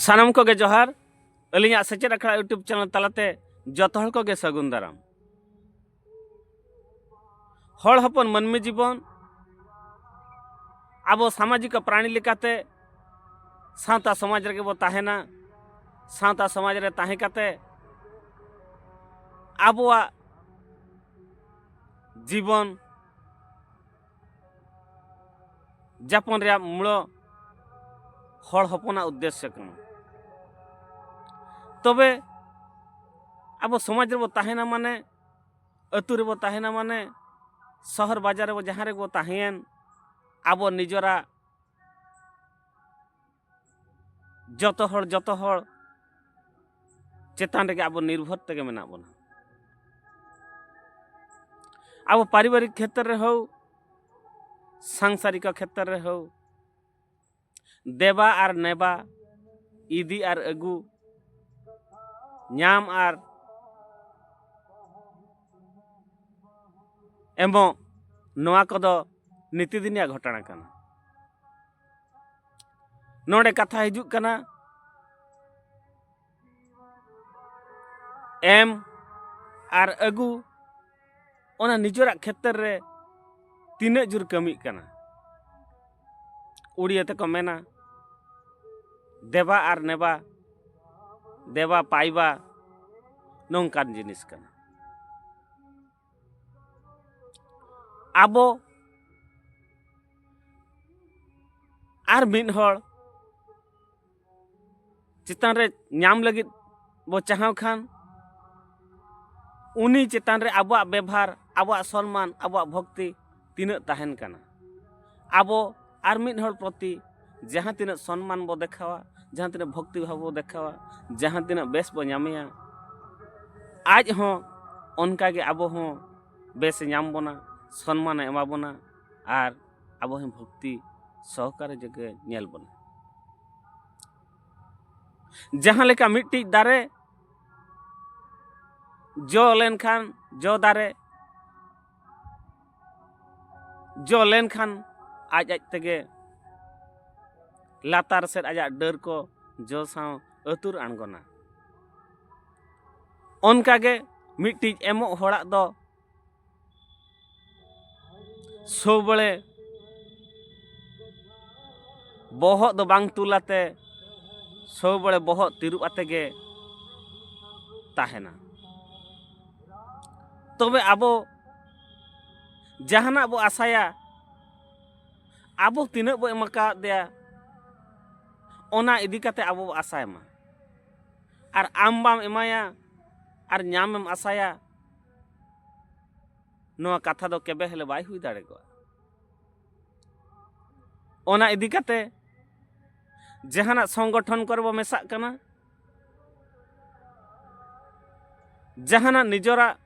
ᱥᱟᱱᱟᱢ ᱠᱚᱜᱮ ᱡᱚᱦᱟᱨ ᱟᱹᱞᱤᱧᱟᱜ ᱥᱮᱪᱮᱫ ᱟᱠᱷᱲᱟ ᱤᱭᱩᱴᱩᱵᱽ ᱪᱮᱱᱮᱞ ᱛᱟᱞᱟᱛᱮ ᱡᱚᱛᱚ ᱦᱚᱲ ᱠᱚᱜᱮ ᱥᱟᱹᱜᱩᱱ ᱫᱟᱨᱟᱢ ᱦᱚᱲ ᱦᱚᱯᱚᱱ ᱢᱟᱹᱱᱢᱤ ᱡᱤᱵᱚᱱ ᱟᱵᱚ ᱥᱟᱢᱟᱡᱤᱠ ᱯᱨᱟᱬᱤ ᱞᱮᱠᱟᱛᱮ ᱥᱟᱶᱛᱟ ᱥᱚᱢᱟᱡᱽ ᱨᱮᱜᱮ ᱵᱚ ᱛᱟᱦᱮᱱᱟ ᱥᱟᱶᱛᱟ ᱥᱚᱢᱟᱡᱽ ᱨᱮ ᱛᱟᱦᱮᱸ ᱠᱟᱛᱮ ᱟᱵᱚᱣᱟᱜ ᱡᱤᱵᱚᱱ ᱡᱟᱯᱚᱱ ᱨᱮᱭᱟᱜ ᱢᱩᱬᱚ ᱦᱚᱲ ᱦᱚᱯᱚᱱᱟᱜ ᱩᱫᱽᱫᱮᱥᱥᱚ ᱠᱟᱱᱟ ᱛᱚᱵᱮ ᱟᱵᱚ ᱥᱚᱢᱟᱡᱽ ᱨᱮᱵᱚ ᱛᱟᱦᱮᱱᱟ ᱢᱟᱱᱮ ᱟᱹᱛᱩ ᱨᱮᱵᱚ ᱛᱟᱦᱮᱱᱟ ᱢᱟᱱᱮ ᱥᱚᱦᱚᱨ ᱵᱟᱡᱟᱨ ᱨᱮᱵᱚ ᱡᱟᱦᱟᱸ ᱨᱮᱵᱚ ᱛᱟᱦᱮᱸᱭᱮᱱ ᱟᱵᱚ ᱱᱤᱡᱚᱨᱟᱜ ᱡᱚᱛᱚ ᱦᱚᱲ ᱡᱚᱛᱚ ᱦᱚᱲ ᱪᱮᱛᱟᱱ ᱨᱮᱜᱮ ᱟᱵᱚ ᱱᱤᱨᱵᱷᱚᱨ ᱛᱮᱜᱮ ᱢᱮᱱᱟᱜ ᱵᱚᱱᱟ ᱟᱵᱚ ᱯᱟᱨᱤᱵᱟᱨᱤᱠ ᱠᱷᱮᱛᱨᱮ ᱨᱮ ᱦᱳᱠ ᱥᱟᱝᱥᱟᱨᱤᱠ ᱠᱷᱮᱛᱨᱮ ᱨᱮ ᱦᱳᱠ ᱫᱮᱵᱟ ᱟᱨ ᱱᱮᱵᱟ ᱤᱫᱤ ᱟᱨ ᱟᱹᱜᱩ ᱧᱟᱢ ᱟᱨ ᱮᱢᱚᱜ ᱱᱚᱣᱟ ᱠᱚᱫᱚ ᱱᱤᱛᱤᱫᱤᱱᱤᱭᱟᱜ ᱜᱷᱚᱴᱚᱱᱟ ᱠᱟᱱᱟ ᱱᱚᱰᱮ ᱠᱟᱛᱷᱟ ᱦᱤᱡᱩᱜ ᱠᱟᱱᱟ ᱮᱢ ᱟᱨ ᱟᱹᱜᱩ ᱚᱱᱟ ᱱᱤᱡᱮᱨᱟᱜ ᱠᱷᱮᱛᱨᱮ ᱨᱮ ᱛᱤᱱᱟᱹᱜ ᱡᱳᱨ ᱠᱟᱹᱢᱤᱜ ᱠᱟᱱᱟ ᱩᱲᱤᱭᱟᱹ ᱛᱮᱠᱚ ᱢᱮᱱᱟ ᱫᱮᱵᱟ ᱟᱨ ᱱᱮᱵᱟ ᱫᱮᱵᱟ ᱯᱟᱭᱵᱟ ᱱᱚᱝᱠᱟᱱ ᱡᱤᱱᱤᱥ ᱠᱟᱱᱟ ᱟᱵᱚ ᱟᱨ ᱢᱤᱫ ᱦᱚᱲ ᱪᱮᱛᱟᱱ ᱨᱮ ᱧᱟᱢ ᱞᱟᱹᱜᱤᱫ ᱵᱚ ᱪᱟᱦᱟᱣ ᱠᱷᱟᱱ ᱩᱱᱤ ᱪᱮᱛᱟᱱ ᱨᱮ ᱟᱵᱚᱣᱟᱜ ᱵᱮᱵᱷᱟᱨ ᱟᱵᱚᱣᱟᱜ ᱥᱚᱱᱢᱟᱱ ᱟᱵᱚᱣᱟᱜ ᱵᱷᱚᱠᱛᱤ ᱛᱤᱱᱟᱹᱜ ᱛᱟᱦᱮᱱ ᱠᱟᱱᱟ ᱟᱵᱚ ᱟᱨ ᱢᱤᱫ ᱦᱚᱲ ᱯᱨᱚᱛᱤ ᱡᱟᱦᱟᱸ ᱛᱤᱱᱟᱹᱜ ᱥᱚᱱᱢᱟᱱ ᱵᱚ ᱫᱮᱠᱷᱟᱣᱟ ᱡᱟᱦᱟᱸ ᱛᱤᱱᱟᱹᱜ ᱵᱷᱚᱠᱛᱤ ᱵᱷᱟᱵᱽ ᱵᱚ ᱫᱮᱠᱷᱟᱣᱟ ᱡᱟᱦᱟᱸ ᱛᱤᱱᱟᱹᱜ ᱵᱮᱥ ᱵᱚ ᱧᱟᱢᱮᱭᱟ ᱟᱡ ᱦᱚᱸ ᱚᱱᱠᱟᱜᱮ ᱟᱵᱚ ᱦᱚᱸ ᱵᱮᱥᱮ ᱧᱟᱢ ᱵᱚᱱᱟ ᱥᱚᱱᱢᱟᱱᱮ ᱮᱢᱟ ᱵᱚᱱᱟ ᱟᱨ ᱟᱵᱚ ᱦᱚᱸ ᱵᱷᱚᱠᱛᱤ ᱥᱚᱦᱚᱠᱟᱨᱮ ᱡᱟᱜᱮ ᱧᱮᱞ ᱵᱚᱱᱟ ᱡᱟᱦᱟᱸ ᱞᱮᱠᱟ ᱢᱤᱫᱴᱤᱡ ᱫᱟᱨᱮ ᱡᱚ ᱞᱮᱱᱠᱷᱟᱱ ᱡᱚ ᱫᱟᱨᱮ ᱡᱚ ᱞᱮᱱᱠᱷᱟᱱ ᱟᱡ ᱟᱡ ᱛᱮᱜᱮ ᱞᱟᱛᱟᱨ ᱥᱮᱫ ᱟᱡᱟᱜ ᱰᱟᱹᱨ ᱠᱚ ᱡᱚ ᱥᱟᱶ ᱟᱹᱛᱩᱨ ᱟᱬᱜᱚᱱᱟ ᱚᱱᱠᱟᱜᱮ ᱢᱤᱫᱴᱤᱡ ᱮᱢᱚᱜ ᱦᱚᱲᱟᱜ ᱫᱚ ᱥᱚᱵᱲᱮ ᱵᱚᱦᱚᱜ ᱫᱚ ᱵᱟᱝ ᱛᱩᱞ ᱟᱛᱮ ᱥᱚᱵᱲᱮ ᱵᱚᱦᱚᱜ ᱛᱤᱨᱩᱵ ᱟᱛᱮ ᱜᱮ ᱛᱟᱦᱮᱱᱟ ᱛᱚᱵᱮ ᱟᱵᱚ ᱡᱟᱦᱟᱱᱟᱜ ᱵᱚ ᱟᱥᱟᱭᱟ ᱟᱵᱚ ᱛᱤᱱᱟᱹᱜ ᱵᱚ ᱮᱢ ᱟᱠᱟᱫᱮᱭᱟ ᱚᱱᱟ ᱤᱫᱤ ᱠᱟᱛᱮ ᱟᱵᱚ ᱵᱚ ᱟᱥᱟᱭ ᱢᱟ ᱟᱨ ᱟᱢ ᱵᱟᱢ ᱮᱢᱟᱭᱟ ᱟᱨ ᱧᱟᱢᱮᱢ ᱟᱥᱟᱭᱟ ᱱᱚᱣᱟ ᱠᱟᱛᱷᱟ ᱫᱚ ᱠᱮᱵᱮ ᱦᱮᱞᱮ ᱵᱟᱭ ᱦᱩᱭ ᱫᱟᱲᱮ ᱠᱚᱜᱼᱟ ᱚᱱᱟ ᱤᱫᱤ ᱠᱟᱛᱮ ᱡᱟᱦᱟᱱᱟᱜ ᱥᱚᱝᱜᱚᱴᱷᱚᱱ ᱠᱚᱨᱮ ᱵᱚ ᱢᱮᱥᱟᱜ ᱠᱟᱱᱟ ᱡᱟᱦᱟᱱᱟᱜ ᱱᱤᱡᱚᱨᱟᱜ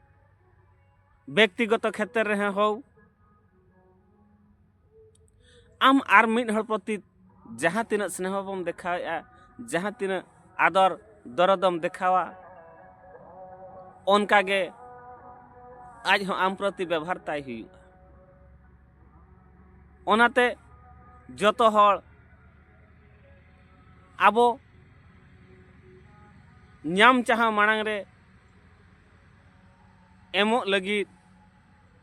ᱵᱮᱠᱛᱤᱜᱚᱛᱚ ᱠᱷᱮᱛᱨᱮ ᱨᱮ ᱦᱳᱣ ᱟᱢ ᱟᱨ ᱢᱤᱫ ᱦᱚᱲ ᱯᱨᱚᱛᱤ ᱡᱟᱦᱟᱸ ᱛᱤᱱᱟᱹᱜ ᱥᱱᱮᱦᱚ ᱵᱚᱱ ᱫᱮᱠᱷᱟᱣᱮᱫᱼᱟ ᱡᱟᱦᱟᱸ ᱛᱤᱱᱟᱹᱜ ᱟᱫᱚᱨ ᱫᱚᱨᱚᱫᱚᱢ ᱫᱮᱠᱷᱟᱣᱟ ᱚᱱᱠᱟᱜᱮ ᱟᱡ ᱦᱚᱸ ᱟᱢ ᱯᱨᱚᱛᱤ ᱵᱮᱵᱷᱟᱨ ᱛᱟᱭ ᱦᱩᱭᱩᱜᱼᱟ ᱚᱱᱟᱛᱮ ᱡᱚᱛᱚ ᱦᱚᱲ ᱟᱵᱚ ᱧᱟᱢ ᱪᱟᱦᱟᱣ ᱢᱟᱲᱟᱝ ᱨᱮ ᱮᱢᱚᱜ ᱞᱟᱹᱜᱤᱫ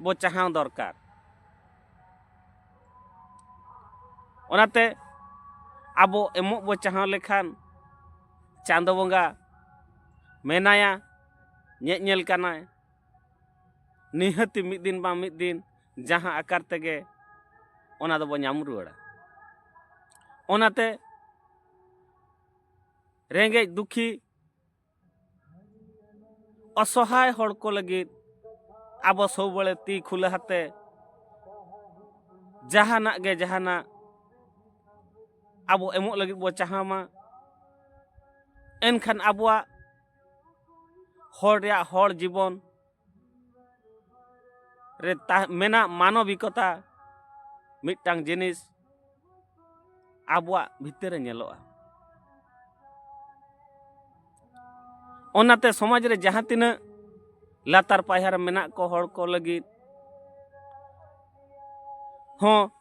ᱵᱚ ᱪᱟᱦᱟᱣ ᱫᱚᱨᱠᱟᱨ ᱚᱱᱟᱛᱮ ᱟᱵᱚ ᱮᱢᱚᱜ ᱵᱚ ᱪᱟᱦᱟᱣ ᱞᱮᱠᱷᱟᱱ ᱪᱟᱸᱫᱚ ᱵᱚᱸᱜᱟ ᱢᱮᱱᱟᱭᱟ ᱧᱮᱡ ᱧᱮᱞ ᱠᱟᱱᱟᱭ ᱱᱤᱦᱟᱹᱛᱤ ᱢᱤᱫ ᱫᱤᱱ ᱵᱟᱝ ᱢᱤᱫ ᱫᱤᱱ ᱡᱟᱦᱟᱸ ᱟᱠᱟᱨ ᱛᱮᱜᱮ ᱚᱱᱟ ᱫᱚᱵᱚ ᱧᱟᱢ ᱨᱩᱣᱟᱹᱲᱟ ᱚᱱᱟᱛᱮ ᱨᱮᱸᱜᱮᱡ ᱫᱩᱠᱷᱤ ᱚᱥᱚᱦᱟᱭ ᱦᱚᱲ ᱠᱚ ᱞᱟᱹᱜᱤᱫ ᱟᱵᱚ ᱥᱚᱵᱟᱹᱲᱮ ᱛᱤ ᱠᱷᱩᱞᱟᱹ ᱦᱟᱛᱮ ᱡᱟᱦᱟᱱᱟᱜ ᱜᱮ ᱡᱟᱦᱟᱱᱟᱜ ᱟᱵᱚ ᱮᱢᱚᱜ ᱞᱟᱹᱜᱤᱫ ᱵᱚ ᱪᱟᱦᱟᱣ ᱢᱟ ᱮᱱᱠᱷᱟᱱ ᱟᱵᱚᱣᱟᱜ ᱦᱚᱲ ᱨᱮᱭᱟᱜ ᱦᱚᱲ ᱡᱤᱵᱚᱱ ᱨᱮ ᱢᱮᱱᱟᱜ ᱢᱟᱱᱚᱵᱤᱠᱚᱛᱟ ᱢᱤᱫᱴᱟᱝ ᱡᱤᱱᱤᱥ ᱟᱵᱚᱣᱟᱜ ᱵᱷᱤᱛᱟᱹᱨ ᱨᱮ ᱧᱮᱞᱚᱜᱼᱟ ᱚᱱᱟᱛᱮ ᱥᱚᱢᱟᱡᱽ ᱨᱮ ᱡᱟᱦᱟᱸ ᱛᱤᱱᱟᱹᱜ ᱞᱟᱛᱟᱨ ᱯᱟᱭᱦᱟ ᱨᱮ ᱢᱮᱱᱟᱜ ᱠᱚ ᱦᱚᱲ ᱠᱚ ᱞᱟᱹᱜᱤᱫ ᱦᱚᱸ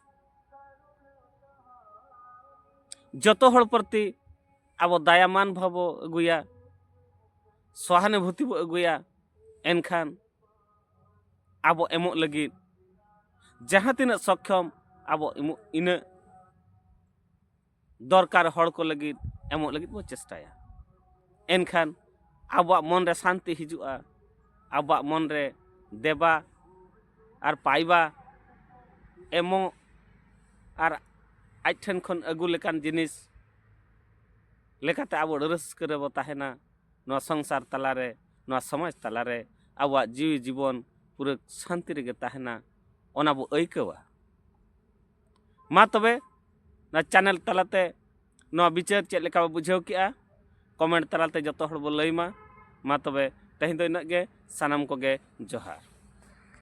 ᱡᱚᱛᱚ ᱦᱚᱲ ᱯᱨᱚᱛᱤ ᱟᱵᱚ ᱫᱟᱭᱟᱢᱟᱱ ᱵᱷᱟᱵᱽ ᱵᱚ ᱟᱹᱜᱩᱭᱟ ᱥᱚᱦᱟᱱᱩᱵᱷᱩᱛᱤ ᱵᱚ ᱟᱹᱜᱩᱭᱟ ᱮᱱᱠᱷᱟᱱ ᱟᱵᱚ ᱮᱢᱚᱜ ᱞᱟᱹᱜᱤᱫ ᱡᱟᱦᱟᱸ ᱛᱤᱱᱟᱹᱜ ᱥᱚᱠᱠᱷᱚᱢ ᱟᱵᱚ ᱮᱢᱚᱜ ᱤᱱᱟᱹᱜ ᱫᱚᱨᱠᱟᱨ ᱦᱚᱲ ᱠᱚ ᱞᱟᱹᱜᱤᱫ ᱮᱢᱚᱜ ᱞᱟᱹᱜᱤᱫ ᱵᱚ ᱪᱮᱥᱴᱟᱭᱟ ᱮᱱᱠᱷᱟᱱ ᱟᱵᱚᱣᱟᱜ ᱢᱚᱱ ᱨᱮ ᱥᱟᱱᱛᱤ ᱦᱤᱡᱩᱜᱼᱟ ᱟᱵᱚᱣᱟᱜ ᱢᱚᱱ ᱨᱮ ᱫᱮᱵᱟ ᱟᱨ ᱯᱟᱭᱵᱟ ᱮᱢᱚᱜ ᱟᱨ ᱟᱡ ᱴᱷᱮᱱ ᱠᱷᱚᱱ ᱟᱹᱜᱩ ᱞᱮᱠᱟᱱ ᱡᱤᱱᱤᱥ ᱞᱮᱠᱟᱛᱮ ᱟᱵᱚ ᱟᱹᱰᱤ ᱨᱟᱹᱥᱠᱟᱹ ᱨᱮᱵᱚ ᱛᱟᱦᱮᱱᱟ ᱱᱚᱣᱟ ᱥᱚᱝᱥᱟᱨ ᱛᱟᱞᱟ ᱨᱮ ᱱᱚᱣᱟ ᱥᱚᱢᱟᱡᱽ ᱛᱟᱞᱟ ᱨᱮ ᱟᱵᱚᱣᱟᱜ ᱡᱤᱣᱤ ᱡᱤᱵᱚᱱ ᱯᱩᱨᱟᱹ ᱥᱟᱱᱛᱤ ᱨᱮᱜᱮ ᱛᱟᱦᱮᱱᱟ ᱚᱱᱟ ᱵᱚ ᱟᱹᱭᱠᱟᱹᱣᱟ ᱢᱟ ᱛᱚᱵᱮ ᱱᱚᱣᱟ ᱪᱮᱱᱮᱞ ᱛᱟᱞᱟᱛᱮ ᱱᱚᱣᱟ ᱵᱤᱪᱟᱹᱨ ᱪᱮᱫ ᱞᱮᱠᱟ ᱵᱚ ᱵᱩᱡᱷᱟᱹᱣ ᱠᱮᱜᱼᱟ ᱠᱚᱢᱮᱱᱴ ᱛᱟᱞᱟᱛᱮ ᱡᱚᱛᱚ ᱦᱚᱲ ᱵᱚ ᱞᱟᱹᱭ ᱢᱟ ᱢᱟ ᱛᱚᱵᱮ ᱛᱮᱦᱮᱧ ᱫᱚ ᱤᱱᱟᱹᱜ ᱜᱮ ᱥᱟᱱᱟᱢ ᱠᱚᱜᱮ ᱡᱚᱦᱟᱨ